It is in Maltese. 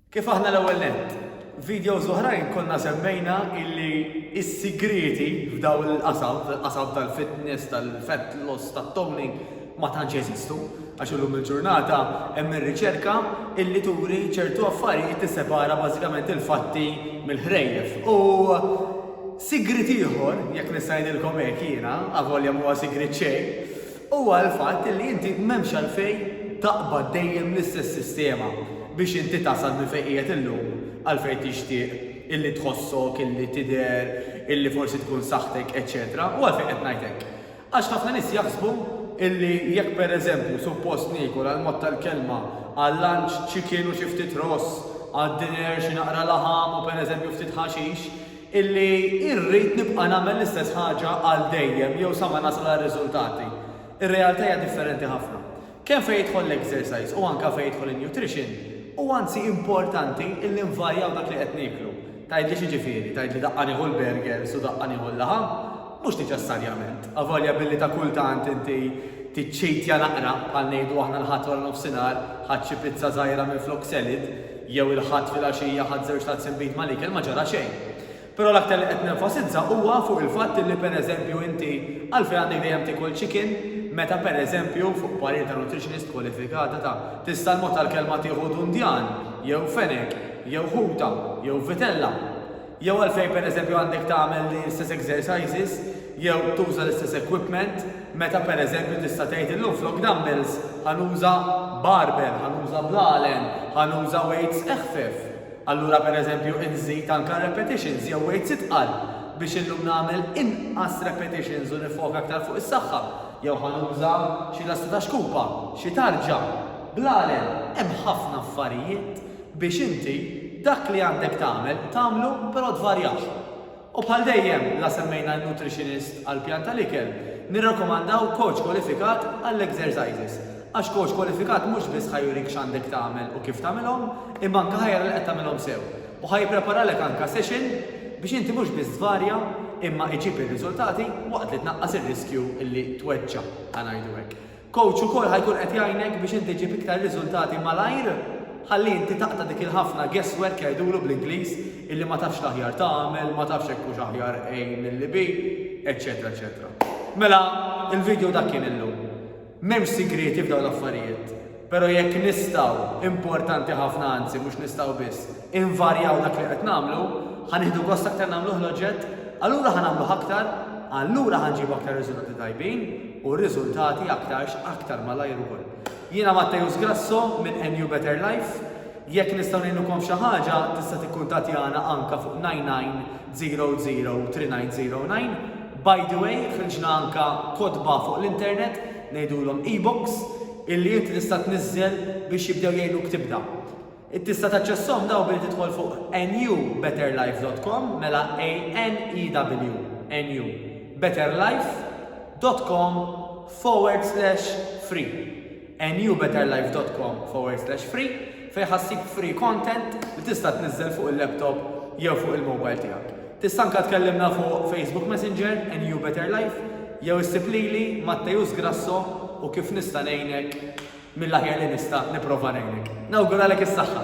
Kif aħna l-ewwel nett, f'videos oħrajn konna semmejna illi s-sigrieti f'dawn il-qasam, fil-qasam tal-fitness, tal-fat loss, tat-toning, ma tantx jeżistu, għax illum il-ġurnata hemm ir-riċerka illi turi ċertu affarijiet tissepara bażikament il-fatti mill-ħrejjef. U sigriet ieħor, jekk nista' ngħidilkom hekk jiena, avolja m'huwa sigriet xejn, Huwa l-fatt illi inti m'hemmx għalfejn taqbad dejjem l-istess sistema biex inti tasal minn fejn qiegħed illum għal fejn tixtieq illi tħossok, illi tidher, illi forsi tkun saħħtek, eċċetera U għalfejn qed ngħid hekk? Għax ħafna nies jaħsbu illi jekk pereżempju suppost niekol għall-mod tal-kelma għal-lunch chicken u xi ftit ross, għad-dinner xi naqra laħam u pereżempju ftit ħaxix, illi rrid nibqa' nagħmel l-istess ħaġa għal dejjem jew sa ma nasal għar-riżultati. Ir-realtà hija differenti ħafna. Kemm fejn jidħol l-exercise u anke fejn jidħol in-nutrition, huwa anzi importanti illi nvarjaw dak li qed nieklu. Tgħidli x'jiġifieri? Tgħidli daqqa nieħu l-burgers u daqqa nieħu l-laħam? Mhux niċessarjament. Avolja billi ta' kultant inti tiċċitja naqra, bħal ngħidu aħna l-Ħadd wara nofsinhar, ħadt xi pizza żgħira minflok salad, jew il-Ħadd filgħaxija ħadt żewġ tazzi nbid mal-ikel ma ġara xejn. Però l-aktar li qed nenfasizza huwa fuq il-fatt li pereżempju inti għalfejn għandek dejjem tiekol chicken meta pereżempju fuq parir ta' nutritionist kwalifikata ta' tista' l-mod tal-kelma tieħu dundjan jew fenek jew ħuta jew vitella. Jew għalfejn pereżempju għandek tagħmel l-istess exercises jew tuża l-istess equipment meta pereżempju tista' tgħid illum flok dumbbells ħa nuża barbell, ħa nuża blalen, ħa nuża weights eħfef. Allura pereżempju inżid anke r-repetitions jew weights itqal biex illum nagħmel inqas repetitions u niffoka aktar fuq is-saħħa. Jew ħa nuża xi lasta ta' xkupa, xi tarġa, blalen, hemm ħafna affarijiet. biex inti dak li għandek tagħmel tagħmlu però tvarjah. U bħal dejjem la semmejna n-nutritionist għall-pjan tal-ikel, nirrakkomandaw coach kwalifikat għall-exercises għax coach kwalifikat mhux biss ħa jurik x'għandek tagħmel u kif tagħmilhom imma anke ħa jara li qed tagħmilhom sew u ħa jippreparalek anke session biex inti mhux biss tvarja imma iġib ir-riżultati waqt li tnaqqas ir-riskju li tweġġa' ħa ngħidu hekk. Coach ukoll ħa jkun qed jgħinek biex inti ġġib iktar riżultati malajr ħalli inti taqta' dik il-ħafna guess work jgħidulu bl-Ingliż illi ma tafx l-aħjar tagħmel, ma tafx jekk hux aħjar A milli B, eċċetera eċċetera. Mela il-video dak kien illum. M'hemmx sigrieti f'dawn l-affarijiet, però jekk nistgħu, importanti ħafna anzi mhux nistgħu biss, invarjaw dak li qed nagħmlu, ħa nieħdu gost aktar nagħmluh l-oġġett, allura ħa nagħmluh aktar, allura ħa nġibu aktar riżultati tajbin u riżultati aktarx aktar malajr ukoll. Jiena Matteus Grasso minn NU Better Life, jekk nistgħu ngħinukom f'xi ħaġa tista' tikkuntattjana anke fuq 99003909, by the way ħriġna anke kotba fuq l-internet ngħidulhom e-books illi inti tista' tniżżel biex jibdew jgħinuk tibda. Int tista' taċċessahom dawn billi tidħol fuq newbetterlife dot com, mela ANEW, NU, betterlife dot com forward slash free, newbetterlife dot com forward slash free, fejn ħa ssib free content li tista' tniżżel fuq il-laptop jew fuq il-mobile tiegħek. Tista' anke tkellimna fuq Facebook Messenger, NU Better Life, jew issib lili, Matteus Grasso, u kif nista' ngħinek? Mill-aħjar li nista' nipprova ngħinek. Nawguralek is-saħħa!